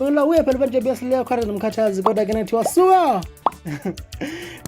Wena uye phela abantu besileyo khona nomkhathazi kodwa ke nathi wasuka.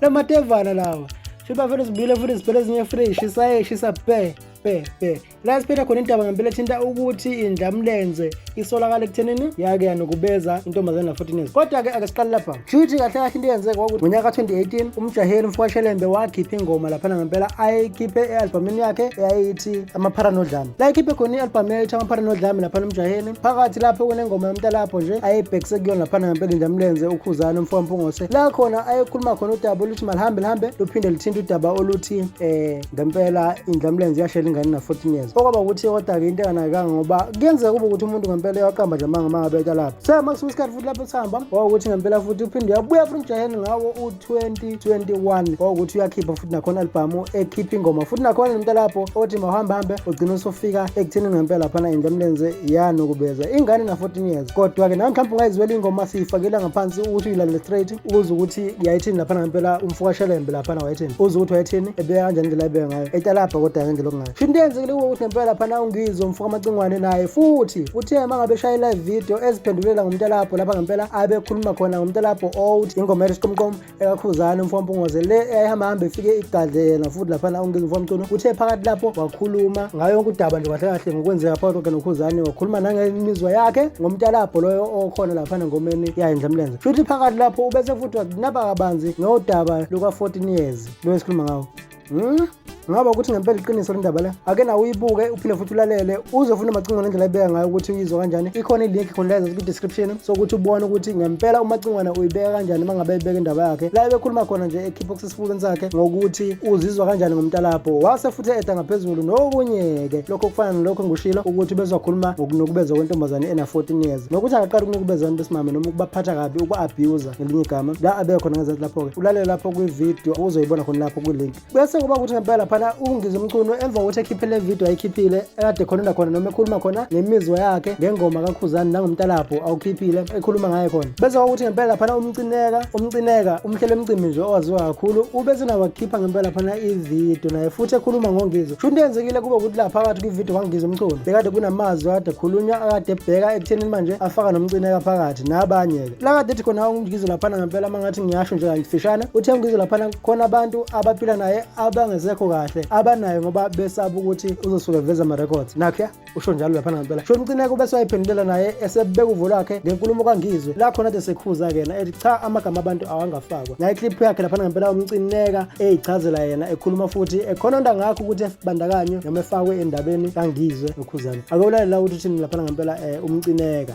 Lamatevana lawa. Shiba vele sibile futhi siphele ezinye fresh isaye shisa pe pe pe. La siphetha khona indaba ngempela ethinta ukuthi indlamlenze isolakala ekuthenini yake yanokubeza intombazana 14 years. Kodwa ke akasiqali lapha. Shuthi kahle kahle into eyenzeka kwakuthi ngonyaka 2018 umjaheli mfowashelembe wakhipha ingoma laphana ngempela ayikhiphe e-albhamini yakhe eyayithi amaphara nodlame la ikhiphe khona i-albhamu eyayithi amaphara nodlame laphana umjaheni phakathi lapho kunengoma yomntalapho nje ayebhekise kuyona laphana ngempela injamlenze ukhuzane umfowampungose la khona ayekhuluma khona udaba oluthi malihambe lihambe luphinde lithinte udaba oluthi um eh, ngempela indlamlenze yashela ingane na-14 years okwaba ukuthi kodwa-ke into enganakekanga ngoba kuyenzeka kube ukuthi umuntu ngempela eyaqamba nje amanga uma ngabe etalapho so makusuke isikhathi lapho sihamba ngoba ukuthi ngempela futhi uphinde uyabuya futhi umjaheni ngawo u-2021 ngoba ukuthi uyakhipha futhi nakhona albhamu ekhipha ingoma futhi nakhona nento lapho othi mahambahambe ugcina usufika ekutheni ngempela laphana indla mlenze yanukubeza ingane na-14 years kodwa-ke nawe mhlawumbe ungayizwela ingoma siyifakela ngaphansi ukuthi uyilandele straight ukuze ukuthi yayithini laphana ngempela umfukashelembe laphana wayethini uze ukuthi wayethini ebeya kanjani indlela ebeka ngayo etalabha kodwa-ke nje lokungayo Sho into eyenzekile kuwe ukuthi ngempela phana ungizwe umfuka amacingwane naye futhi futhi uma ngabe shaya i-live video eziphendulela ngomntalabho lapha ngempela abekhuluma khona ngomntalabho old ingoma ethi siqomqom ekakhuzane umfuka mpungoze le eyayihamba hambe ifike igadle yena futhi laphana ungizwe umfuka mcuno uthe phakathi lapho wakhuluma ngayo yonke udaba nje kahle kahle ngokwenzeka phakathi kwakhe nokhuzane wakhuluma nangemizwa yakhe ngomntalabho loyo okhona laphana ngomeni yayindla mlenze futhi phakathi lapho ubese futhi wakunaba kabanzi ngodaba luka-14 years lo esikhuluma ngawo Hmm? Ngaba ukuthi ngempela iqiniso lendaba le. Ake nawe uyibuke uphinde futhi ulalele uze ufune amacingwana indlela ibeka ngayo ukuthi uyizwa kanjani. Ikhona ilink khona la ku description sokuthi ubone ukuthi ngempela umacingwana uyibeka kanjani mangabe ibeka indaba yakhe. La ebekhuluma khona nje ekhipha okusesifubeni sakhe ngokuthi uzizwa kanjani ngomntalapho. Wase futhi eda ngaphezulu nokunye ke. Lokho kufana nalokho ngushilo ukuthi bezokhuluma ngokunukubeza kwentombazane ena 14 years. Nokuthi akaqala ukunukubeza abantu besimame noma ukubaphatha kabi uku abuse ngelinye igama la abeke khona ngezansi lapho-ke ulalele lapho kwividiyo uzoyibona khona lapho kwilink bese kuba ukuthi ngempela laphana ungize umcuno emva kokuthi ekhiphe le vidiyo ayikhiphile ekade khonela khona noma ekhuluma khona ngemizwa yakhe ngengoma kakhuzani nangomtalabho awukhiphile ekhuluma ngaye khona bese kwakuthi ngempela laphana umcineka umcineka umhlelo emcimbi nje owaziwa kakhulu ubese nawo wakhipha ngempela laphana ividiyo naye futhi ekhuluma ngongizo sho into yenzekile kube ukuthi la phakathi kwividiyo kwangiza umculo bekade kunamazwi akade ekhulunywa akade ebheka ekutheni manje afaka nomcineka phakathi nabanye-ke Laka dithi khona uNgizwe laphana ngempela uma ngathi ngiyasho nje kayifishana uthe uNgizwe laphana khona abantu abaphila naye abangesekho kahle abanayo ngoba besaba ukuthi uzosuke veza ama-records nakhe usho njalo laphana ngempela sho umcineko bese wayiphendulela naye esebeka uvo lwakhe ngenkulumo kangizwe la khona de sekhuza kena ethi cha amagama abantu awangafakwa naye clip yakhe laphana ngempela umcineka eyichazela yena ekhuluma futhi ekhona onto angakho ukuthi ebandakanyo noma efakwe endabeni kangizwe nokhuzane akewulalela ukuthi uthini laphana ngempela um umcineka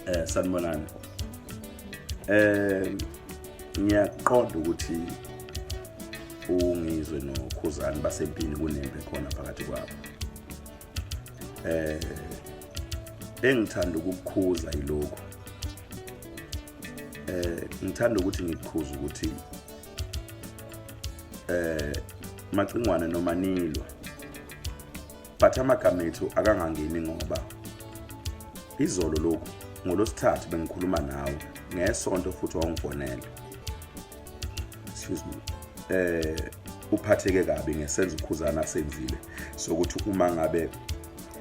eh sanibonani eh ngiyaqonda ukuthi ungizwe nokhuzani basempini kunembe khona phakathi kwabo eh engithanda ukukukhuza yilokho eh ngithanda ukuthi ngikukhuze ukuthi eh macingwane noma nilwa but amagama ethu akangangeni ngoba izolo lokhu ngolosithathu bengikhuluma nawe ngesonto futhi wawungifonele excuse me eh uphatheke kabi ngesenzo ukhuzana senzile sokuthi uma ngabe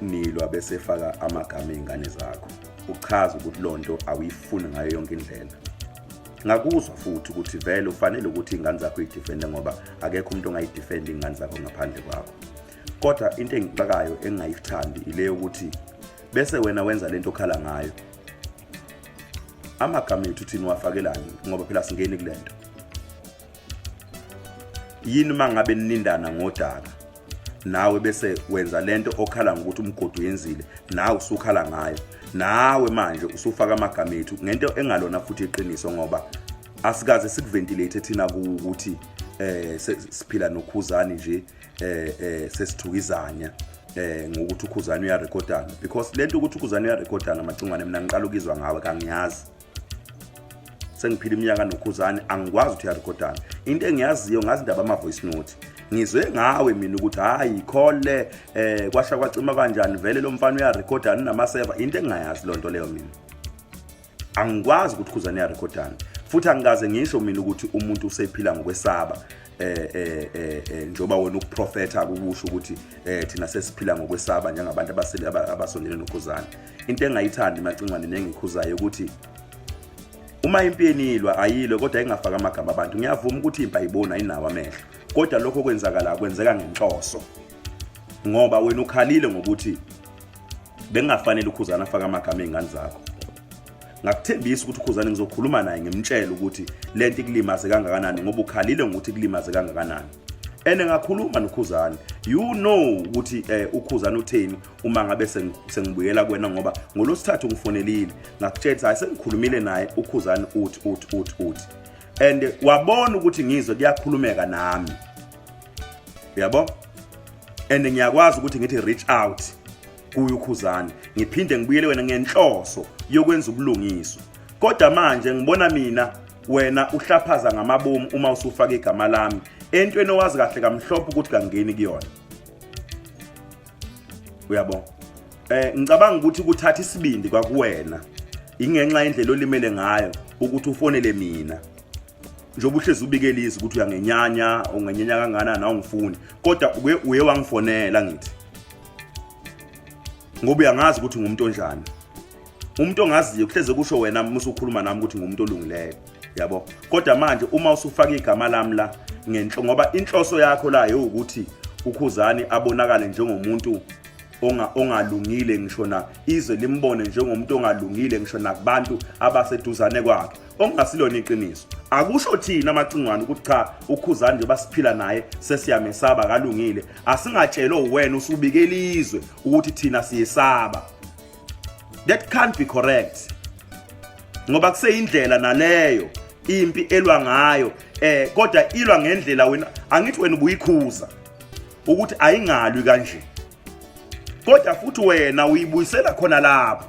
nilwa bese faka amagama ezingane zakho uchaza ukuthi lonto awuyifuni ngayo yonke indlela ngakuzwa futhi ukuthi vele ufanele ukuthi ingane zakho idefende ngoba akekho umuntu ongayidefenda ingane zakho ngaphandle kwakho kodwa into engixakayo engingayithandi ile yokuthi bese wena wenza lento okhala ngayo amagama ethu thina wafakelani ngoba phela singeni kulento yini mangabe ninindana ngodaka nawe bese wenza lento okhala ngokuthi umgodi uyenzile nawe usukhala ngayo nawe manje usufaka amagama ethu ngento engalona futhi iqiniso ngoba asikaze sikuventilate thina ukuthi eh siphila nokhuzani nje eh eh sesithukizanya eh ngokuthi ukhuzana uyarekhodana because lento ukuthi ukhuzana uyarekhodana macingwane mina ngiqala ukizwa ngawe kangiyazi sengiphila iminyaka nokhuzane angikwazi ukuthi uyarekhodana into engiyaziyo ngazi indaba ama voice note ngizwe ngawe mina ukuthi hayi khole eh kwasha kwacima kanjani vele lo mfana uyarekhodana namaseva into engingayazi lonto leyo mina angikwazi ukuthi khuzane yarekhodani futhi angikaze ngisho mina ukuthi umuntu usephila ngokwesaba eh eh eh, eh njoba wena ukuprofetha ukusho ukuthi eh thina sesiphila ngokwesaba njengabantu abasele abasondele nokhuzana into engayithandi macingwane nengikhuzayo ukuthi uma impi yenilwa ayilwe kodwa ingafaka amagama abantu ngiyavuma ukuthi impi ayiboni ayinawo amehlo kodwa lokho kwenzakala kwenzeka ngenhloso ngoba wena ukhalile ngokuthi bengingafanele ukhuzana afake amagama ey'ngane zakho ngakuthembisa ukuthi ukhuzane ngizokhuluma naye ngimtshele ukuthi le nto ikulimaze kangakanani ngoba ukhalile ngokuthi ikulimaze kangakanani and ngakhuluma nokhuzane you know ukuthi eh, ukhuzane utheni uma ngabe sengibuyela kwena ngoba ngolosithathu ngifonelile ngakutshela ukuthi hayi sengikhulumile naye ukhuzane uthi uthi uthi uthi and wabona ukuthi ngizwe kuyakhulumeka nami uyabo and ngiyakwazi ukuthi ngithi reach out kuyo ukhuzane ngiphinde ngibuyele wena ngenhloso yokwenza ubulungiswa kodwa manje ngibona mina wena uhlaphaza ngamabomu uma usufaka igama lami entweni owazi kahle kamhlophe ukuthi kangeni kuyona uyabo eh ngicabanga ukuthi kuthatha isibindi kwakuwena ingenxa indlela olimele ngayo ukuthi ufonele mina njengoba uhlezi ubikela izwi ukuthi uyangenyanya ungenyanya kangana nawe ngifuni kodwa uke uye wangifonela ngithi ngoba uyangazi ukuthi ngumuntu onjani umuntu ongaziyo kuhleze kusho wena musa ukhuluma nami ukuthi ngumuntu olungileyo yabo kodwa manje uma usufaka igama lami la ngenhlo ngoba inhloso yakho la ukuthi ukhuzani abonakale njengomuntu ongalungile ngisho na izwe limbone njengomuntu ongalungile ngisho nakubantu abaseduzane kwakhe okungasilona iqiniso akusho thina amacingwane ukuthi cha ukhuzani nje basiphila naye sesiyamesaba kalungile asingatshelwe uwena usubike ilizwe ukuthi thina siyesaba that can't be correct ngoba kuseyindlela naleyo impi elwa ngayo eh kodwa ilwa ngendlela wena angithi wena ubuyikhuza ukuthi ayingalwi kanje kodwa futhi wena uyibuyisela khona lapho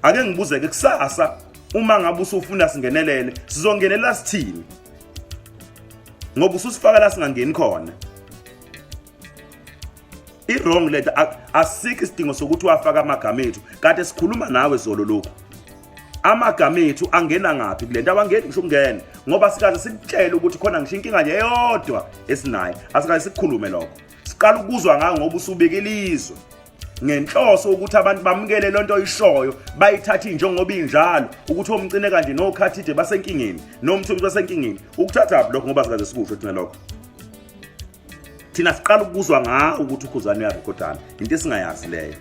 ake ngibuzeke kusasa uma ngabe usufuna singenelele sizongenela sithini ngoba ususifaka la singangeni khona i-wrong lento asikho isidingo sokuthi wafaka amagama ethu kade sikhuluma nawe zolo lokhu amagama ethu angena ngaphi kule nto awangeni ngisho ukungena ngoba sikaze sikutshele ukuthi khona ngisho inkinga nje eyodwa esinayo asikaze sikukhulume lokho siqala ukuzwa ngayo ngoba usubeke ilizwe ngenhloso ukuthi abantu bamukele lento nto oyishoyo bayithathe njengoba injalo ukuthi omcine kanje nokhathide basenkingeni nomthomisi basenkingeni ukuthatha lokho ngoba sikaze sikusho thina lokho thina siqala ukuzwa ngawo ukuthi ukhuzane uyarekhodana into esingayazi leyo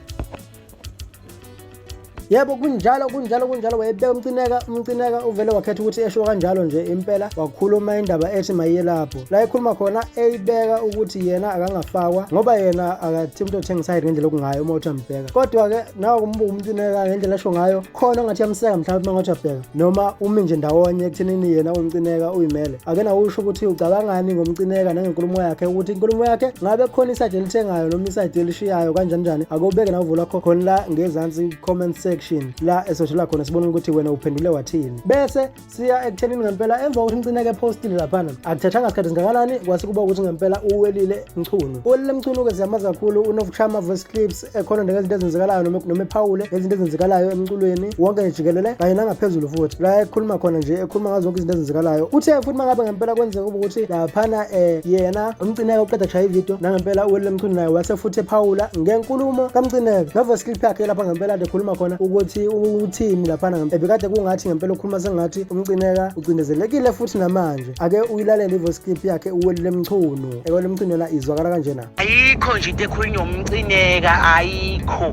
yebo kunjalo kunjalo kunjalo wayebeka umcineka umcineka uvele wakhetha ukuthi esho kanjalo nje impela wakhuluma indaba ethi mayiye lapho la ekhuluma khona eyibeka ukuthi yena akangafakwa ngoba yena akathi umuntu othenga isayidi ngendlela okungayo uma uthi ambheka kodwa-ke nawe kumbuka umcineka ngendlela esho ngayo khona ongathi yamseka mhlawumbe uma ngathi abheka noma umi nje ndawonye ekuthenini yena umcineka uyimele ake nawusho ukuthi ucabangani ngomcineka nangenkulumo yakhe ukuthi inkulumo yakhe ngabe khona isayidi elithengayo noma isayidi elishiyayo kanjani njani akubeke nawuvula kho khona la ngezansi comment section la esoshola khona sibona ukuthi wena uphendule wathini bese siya ekuthenini ngempela emva kokuthi umcineka epostile laphana akuthathanga sikhathi singakanani kwase kuba ukuthi ngempela uwelile mchunu uwelile mchunu-ke siyamazi kakhulu unokushaya ama-voice clips ekhona nje ngezinto ezenzekalayo noma ephawule ngezinto ezenzekalayo emculweni wonke nje jikelele kanye nangaphezulu futhi la ekhuluma khona nje ekhuluma ngazo zonke izinto ezenzekalayo uthe futhi uma ngabe ngempela kwenzeka uba ukuthi laphana um yena umcineke uqeda kushaya ividiyo nangempela uwelile mchunu naye wase futhi ephawula ngenkulumo kamcineke nova skilp yakhe lapha ngempela kade ekhuluma khona ukuthi uthini laphana ebekade kungathi ngempela ukhuluma sengathi umcineka ucindezelekile futhi namanje ake uyilalele ivoice clip yakhe uwelile mchunu ewelile mchunu yona izwakala kanjena ayikho nje into ekhulunywa umcineka ayikho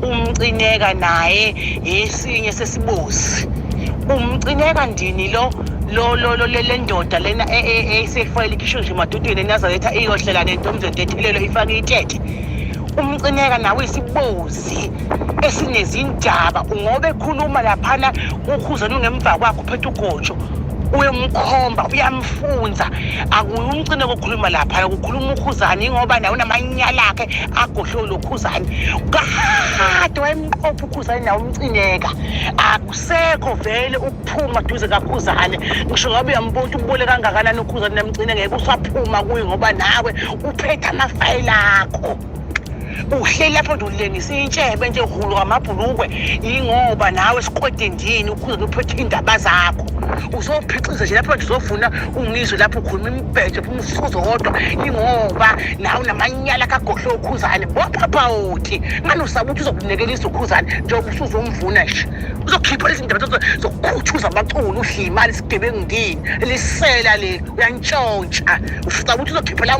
umcineka naye esinye sesibozi umcineka ndini lo lo lo lo le ndoda lena eyisefoyile e, e, ikhishwe nje emadudwini enazaletha iyohlela nento umzonto ethelelo ifake ithethe umcineka nawe isibozi esinezindaba ngoba ekhuluma laphana ukhuzana ungemva kwakho phethe ugotsho uyomkhomba uyamfunza akuye umcine kokhuluma lapha ukukhuluma ukhuzane ingoba nawe unamanyala akhe agohlwe lokhuzane kade wayemqopha ukhuzane nawe umcineka akusekho vele ukuphuma duze kakhuzane ngisho ngabe uyambona ukuthi ubole kangakanani ukhuzane namcine ngeke usaphuma kuye ngoba nawe uphethe amafayela akho uhleli lapho ndululengisa intshebe nje hulu ngamabhulukwe yingoba nawe siqwede ndini ukhuze nophethe iy'ndaba zakho uzophixiza nje lapho nje uzofuna ungizwe lapho ukhuluma imibhedo phuma ufuzo kodwa yingoba nawe unamanyala kagohle ukhuzane bophaphawothi ngani usaba ukuthi uzokunekelisa ukhuzane njengoba usuzomvuna nje uzokhipha izindaba zokukhuthuza abaculi udla imali isigebengu ndini lisela le uyantshontsha usaba ukuthi uzokhipha lawo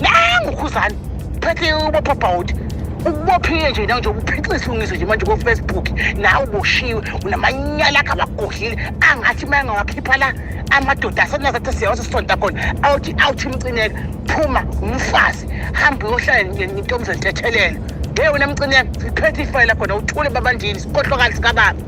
nangu khuzani phethe ubopha bhawuti ukubophile nje nawe nje uphixisa isilungiso nje manje kofacebook nawe uboshiwe unamanyala akho abagodlile angathi uma engawakhipha la amadoda asenazathi siyawase sisonta khona awuthi awuthi mcineka phuma umfazi hambe uyohlala nentombizane ntethelelo nge wena mcineka siphethe ifayela khona uthule babandini sikhohlokali sikababa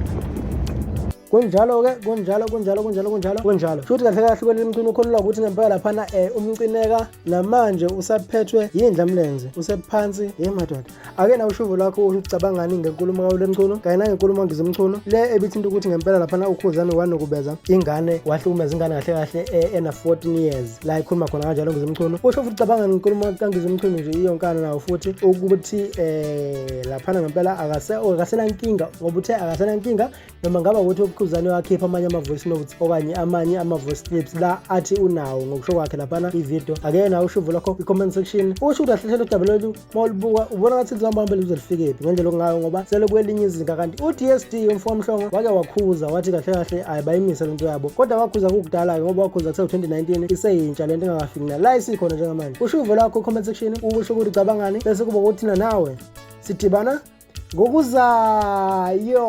kunjalo-ke kunjalo kunjalo kunjalo kunjalo kunjalo futhi kahle kahle kweli mcini ukholelwa ukuthi ngempela laphana um umcineka namanje usaphethwe yindla mlenze usephansi ye madoda ake na ushuvo lwakho ucabangani ngenkulumo kawule mcuno kanye nangenkulumo ngize mcuno le ebithinta ukuthi ngempela laphana ukhuzane wanokubeza ingane wahlukumeza ingane kahle kahle e, ena 14 years la ikhuluma khona kanjalo ngize mcuno usho futhi ucabanga ngenkulumo kangize mcuno nje iyonkana nawo futhi ukuthi um laphana ngempela akasenankinga ngoba uthe akasenankinga noma ngaba ukuthi uquzane wakhipha amanye ama-voice notes okanye amanye ama-voice clips la athi unawo ngokusho kwakhe laphana ivideo ake nawe ushuvo lakho kwi-comment section usho ukuthi ahlehlela udaba lwethu uma ulibuka ubona ngathi lizohamba hambele uze lifikephi ngendlela okungayo ngoba sele kwelinye izinga kanti u-dsd umfokamhlongo wake wakhuza wathi kahle kahle ayi bayimise le nto yabo kodwa wakhuza kukudala-ke ngoba wakhuza kuse-2019 iseyintsha le nto engakafiki na la isikhona njengamanje ushuvo lakho kwi-comment section ukusho ukuthi cabangani bese kuba kuthina nawe sidibana ngokuzayo